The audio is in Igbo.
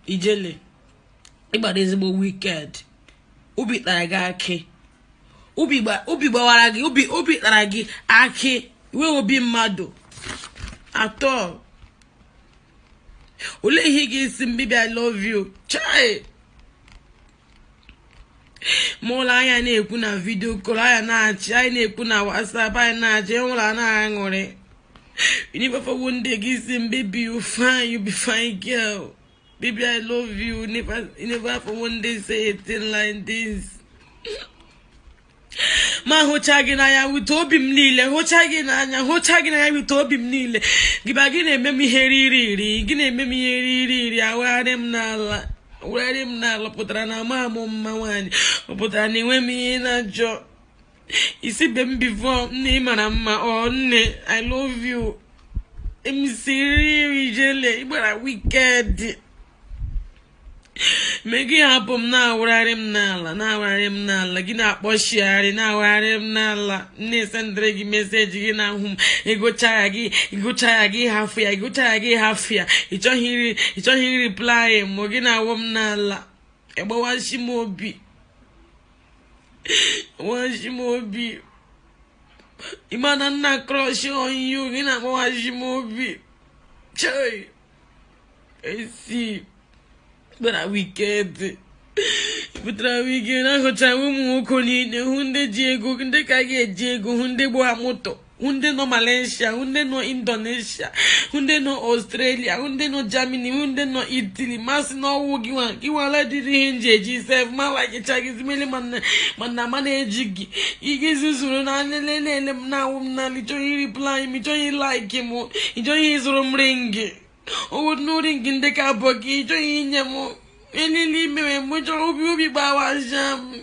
ijele ịgbara ezigbo wicked obi tara gị akị obi gbawara gị obi obi kpara gị akị wee obi mmadụ atọ olee ihe ị ga-asị m baby i love you chai mgbe ọbụla anyị na-ekwu na video call anyị na-achị anyị na-ekwu na whatsapp anyị na-achị enwere a na-aṅụrị you never for one day gị asị m baby you fine you be fine girl baby i love you you never for one day say a thing like this m ahụcha gị n'anya with obi m niile hụcha gị n'anya hụcha gị n'anya with obi m niile gịba gị na-eme m ihe riri iri gị na-eme m ihe riri iri awagharị m n'ala awagharị m n'ala pụtara na amaghị m mma nwaanyị ọ pụtara na enweghị m ihe ị na-achọ ị sịbe m before nne ị mara mma ọ nne i love you i'm serious ijele ịgbara wicked me gị hapụ m na-awụgharị m n'ala na-awụgharị m n'ala gị na-akpọchigharị na-awụgharị m n'ala na-esendịrị gị message gị na-ahụ m ịgụcha ya gị ịgụcha ya gị hafụ ya ịgụcha ya gị hafụ ya ịchọghị iri ịchọghị ireply mụ gị na-awụ m n'ala ịgbawashị m obi gbawashị m obi ị ma na m na crush on you gị na-agbawashị m obi chei esi ịgbara wicked ịgbara wicked ahụchara ụmụ nwoke niile hụ ndị ji ego ndị ka gị eji ego hụ ndị gba moto hụ ndị nọ malaysia hụ ndị nọ indonesia hụ ndị nọ australia hụ ndị nọ germany hụ ndị nọ italy ma sị na ọ wụ gị nwa gị nwa na-adịghị ihe i ji eji sef m alikecha gị zimeli mana mana ama na-eji gị ị ga-ezuzuru na-eleli m na-awụ m n'ala ịchọghị reply m ịchọghị like m ịchọghị ịzụrụ m ring ọ wụgodu ring ndị ka abụọ ka ịchọghị inye m elili imewe m chọrọ obi obi gbawasa m